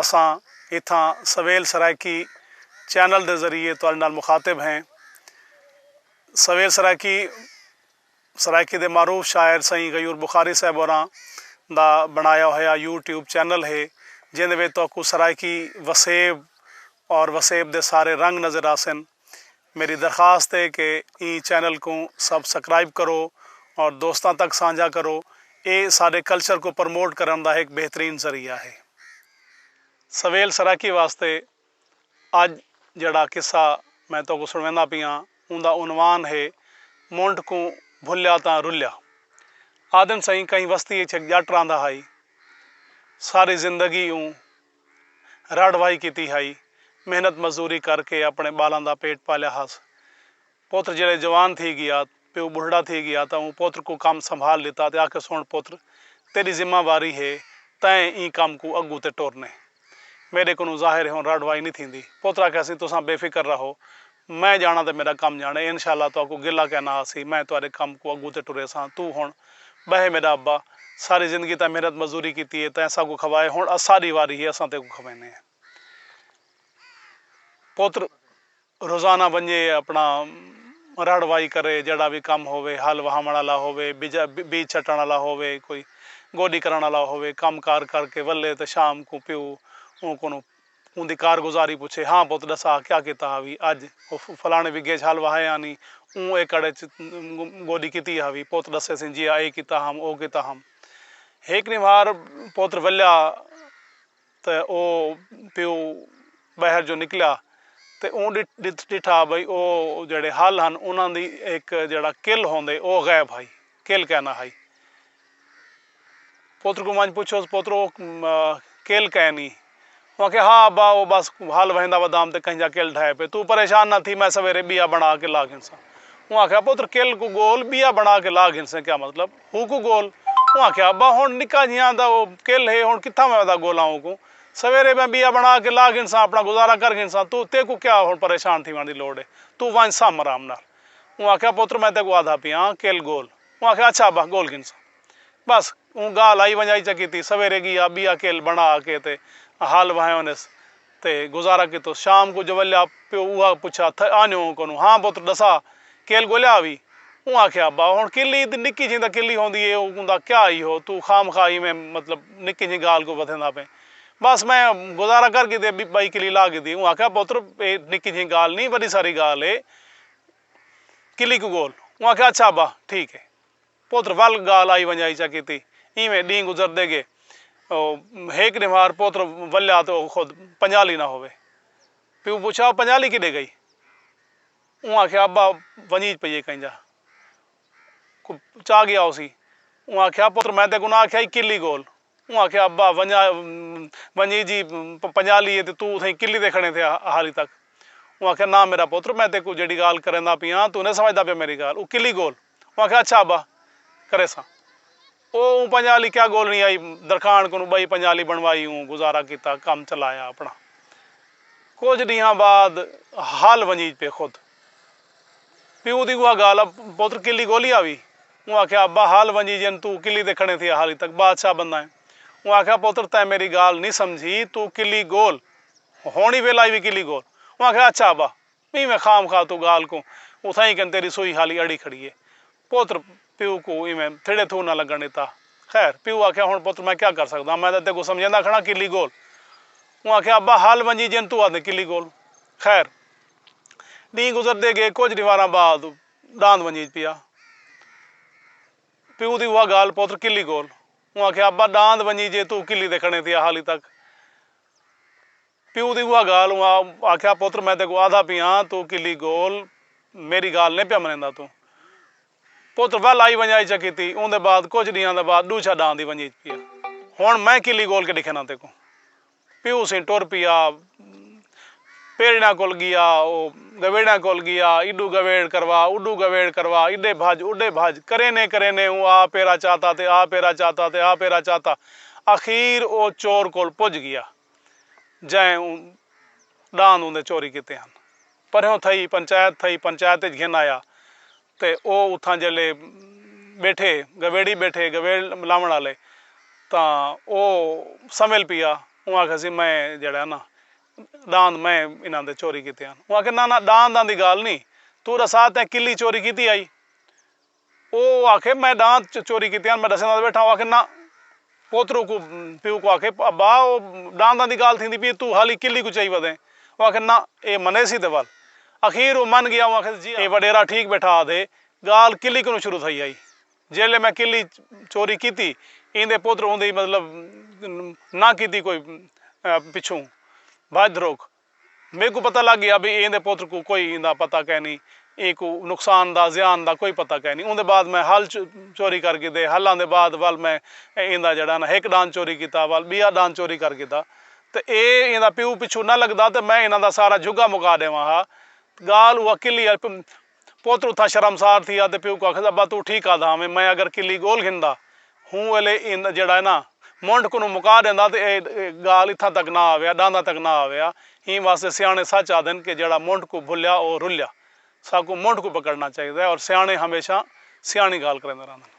اساں اتھاں سویل سرائیکی چینل دے ذریعے تہاڈے نال مخاطب ہیں۔ سویل سرائیکی سرائیکی دے معروف شاعر سئیں غیور بخاری صاحب ہوراں دا بنڑایا ہویا یو ٹیوب چینل ہے جیندے وچ تہاکوں سرائیکی وسیب اور وسیب دے سارے رنگ نظر آسن۔ میݙی درخواست ہے کہ ایں چینل کوں سب سکرائب کرو اور دوستاں تک سانجھا کرو اے ساݙے کلچر کوں پرموٹ کرݨ دا ہک بہترین ذریعہ ہے۔ سویل سرائیکی واسطے اڄ جیڑھا قصہ میں تہاکوں سݨویندا پیاں اوندا عنوان ہے منڈھ کوں بھلیا تاں رلیا آہدن سئیں کہیں وستی اچ ہک ڄٹ رہندا ہائی ساری زندگی اوں رڑھ واہی کیتی ہئی۔ محنت مزدوری کر کے اپݨے ٻالاں دا پیٹ پالیا ہس۔ پتر جیڑھے جوان تھی ڳیا، پیو ٻڈھڑا تھی ڳیا تاں اوں پتر کوں کم سنبھال ݙتا تے آکھے سݨ پتر تیݙی ذمہ واری ہے تئیں ایں کم کوں اڳوں تے ٹرنے۔ میݙے کنوں ظاہر ہے ہݨ رڑھ واہی نی تھیندی۔ پتر آکھیاسی تساں بے فکر رہو۔ میں جاݨاں تے میݙا کم جاݨے انشاء اللہ تہاکوں گلہ کائے نہ ہاسی میں تہاݙے کم کوں اڳوں تے ٹریساں توں ہݨ ٻہہ میݙا ابا ساری زندگی تیں محنت مزدوری کیتی ہے تیں اساکوں کھوائے ہݨ اساݙی واری ہے اساں تیکوں کھویندے ہیں پتر روزانہ ونڄے اپݨا رڑھ واہی کرے جیڑھا وی کم ہووے ہل واہوݨ آلا ہووے بیج چھٹݨ آلا ہووے کوئی گوݙی کرݨ آلا ہووے کم کار کر کے ولے تے شام کوں پیو اوں کنوں اوندی کارگزاری پچھے، ہاں پت ڈسا کیا کیتا ہاوی اج؟ او فلانے بگھے اچ ہل وہائے ہانی، اوں ایکڑ اچ گوڈی کیتی ہاوی، پت ڈسے سیں جیا اے کیتا ہم او کیتا ہم۔ ہیک ڈینہہ مار پتر ولیا تے او پیو باہر جو نکلیا تے اوں ڈٹھا بھئی او جیڑھے ہل ہن انہاں دی ہیک جیڑھا کل ہوندے او غائب ہائی کیل کائنا ہائی۔ پتر کوں ونج پچھوس پترو او کیل کائنی۔ او آکھے ہا ابا او بس ہل وہیندا ودام تے کہیں جا کیل ڈھائے پئے توں پریشان نہ تھی میں سویرے بیا بنا کے لا گھنساں۔ اوں آکھیا پتر کیل کوں گول بیا بنا کے لا گھنسیں کیا مطلب ہو کوں گول۔ اوں آکھیا ابا ہن نکا جیاں دا او کیل ہے ہن کتھاں میں ودا گولاں او کوں۔ سویرے میں بیا بنا کے لا گھنساں اپنا گزارا کر گھنساں توں تیکوں کیا ہن پریشان تھیوݨ دی لوڑ ہے۔ توں ونج سم آرام نال۔ اوں آکھیا پتر میں تیکوں آدھا پیاں کل گول اوں آکھیا اچھا ابا گول گھنساں بس اوں گالھ آئی ونجائی چا کیتی سویرے گیا بیا کل بنڑا کے تے ہل وہیونس تے گزارا کیتوس شام کوں جولیا پیو اوہا پچھا تھئے آنیو ہوں کونوں ہاں پتر ڈسا کل گولیا ہوی اوں آکھیا ابا ہنڑ کل ای تے نکی جھیں تاں کل ای ہوندی اے اوندا کیا ای ہو توں خواہ مخواہ ایویں مطلب نکی جھیں گالھ کوں ودھیندا پئیں بس میں گزارا کر کیتے بئی کلی لا گھدی اوں آکھیا پتر اے نکی جھیں گالھ نی وڈی ساری گالھ اے قلعی کوں گول اوں آکھیا اچھا ابا ٹھیک ہے پوتر ول گالھ آئی ونجائی چا کیتی ایویں ڈینہہ گزردے گئے او ہیک ڈیمار پوتر ولیا تے او خود پنجالی نہ ہووے پیو پچھا او پنجالی کڈے گئی اوں آکھیا ابا ونجیج پئیے کہیں جا کو چا گیا ہوسی اوں آکھیا پوتر میں تیکوں نہ آکھیا ہی قلعی گول اوں آکھیا ابا ونجا ونجی جی پنجالی ہے تے توں اتھائیں کلی تے کھڑیں تھیا ہالی تک اوں آکھیا ناں میڈا پتر میں تیکوں جیڈی گالھ کریندا پیاں توں نئیں سمجھدا پیا میڈی گالھ اوں کلی گول اوں آکھیا اچھا ابا کریساں او اوں پنجالی کیا گولنی آئی درکھان کنوں بئی پنجالی بنوائی اوں گزارا کیتا کم چلایا اپنا کجھ ڈینہاں بعد ہل ونجیج پئے خود۔ پیو دی اوہا گالھ اب پتر کلی گولی آوی۔ اوں آکھیا ابا ہال ونجی جئن توں کلی دے کھڑیں تھیا حالی تک بادشاہ بنداں ایں۔ اوں آکھیا پتر تیں میری گالھ نی سمجھی توں کلی گول ہن ای ویلائی وی کلی گول۔ اوں آکھیا اچھا ابا ایویں خام خواہ توں گالھ کوں اتھائیں کن تیری سوئی حالی اڑی کھڑی اے۔ پتر پیو کوں ایویں تھیڑے تھو نہ لگݨ ݙتا۔ خیر پیو آکھیا ہݨ پتر میں کیا کر سڳداں میں تاں تیکوں سمجھیندا کھڑاں کلی گول اوں آکھیا ابا ہل ونڄی جئن توں آہدیں کلی گول خیر ݙینہہ گزردے ڳئے کجھ ݙینہواراں بعد ݙاند ونڄیج پیا پیو دی اوہا ڳالھ پتر کلی گول اوں آکھیا ابا ݙاند ونڄیجے توں کلی تے کھڑیں تھیا حالی تک پیو دی اوہا گالھ اوں آکھیا پتر میں تیکوں آہدا پی آں توں کلی گول میڈی گالھ نئیں پیا منیندا توں پتر ول آئی ونجا اچ کیتی اوندے بعد کجھ ڈینہاں دے بعد ڈوچھا ڈاں دی ونجی اچ پیا ہن میں کلی گول کے ڈکھینا تیکوں پیو سیں ٹر پیا پیڑیڑاں کول گیا او گویڑیاں کول گیا ایڈو گویڑ کروا اوڈو گویڑ کروا ایڈے بھج اوڈے بھج کرینے کرینے اوں آ پیرا چاتا تے آ پیرا چاتا تے آ پیرا چاتا اخیر او چور کول پج گیا۔ جئیں اوں ݙاند اوندے چوری کیتے ہن۔ پرہیوں تھئی پنچایت تھئی پنچایت اچ گھن آیا تے او اتھاں جیلھے ٻیٹھے گویڑی ٻیٹھے گویڑ لاوݨ آلے تاں او سنویل پیا اوں آکھیسی میں جیڑھا ہے نا ݙاند میں انہاں دے چوری کیتے ہن اوں آکھیا نا نا ݙانداں دی ڳالھ نی توں ݙسا تیں کلی چوری کیتی ہئی؟ او آکھے میں ݙانت چوری کیتے ہن میں ݙسیندا تاں ٻیٹھاں او آکھے نہ پوترو کوں پیو کوں آکھے ابا او ݙانداں دی ڳالھ تھیندی پئی اے توں حالی کلی کوں چائی ودیں او آکھے نہ اے منیسی تے ول اخیر او من ڳیا او آکھے جی اے وݙیرا ٹھیک ٻیٹھا آدھے ڳالھ کلی کنوں شروع تھئی ہئی جیلھے میں کلی چوری کیتی ایندے پوترو اوندی مطلب نہ کیتی کوئی پچھوں بھڄ دھروک میکوں پتہ لگ گیا بھئی ایندے پتر کوں کوئی ایندا پتہ کینی ایں کوں نقصان دا زیان دا کوئی پتہ کینی اوندے بعد میں ہل چوری کر گھدے ہلاں دے بعد ول میں ایندا جیڑھا نا ہک ڈان چوری کیتا ول بیا ڈان چوری کر گھدا تے اے ایندا پیو پچھوں نہ لگدا تے میں انہاں دا سارا جھگا مکا ڈیواں ہا گال اوہ کلی پتر اتھاں شرمسار تھیا تے پیو کوں آکھیس ابا توں ٹھیک آدھا ہاویں میں اگر کلی گول گھندا ہوں ویلے ایندا جیڑھا ہے نا منڈھ کنوں مکا ڈیندا تے ایہ گالھ اتھاں تک نہ آویا ڈانداں تک نہ آویا ایں واسطے سیاݨے سچ آدھن کہ جیڑھا منڈھ کوں بھلیا او رلیا ساکوں منڈھ کوں پکڑنا چاہیدا ہے اور سیاݨے ہمیشہ سیاݨی گالھ کریندے رہندن۔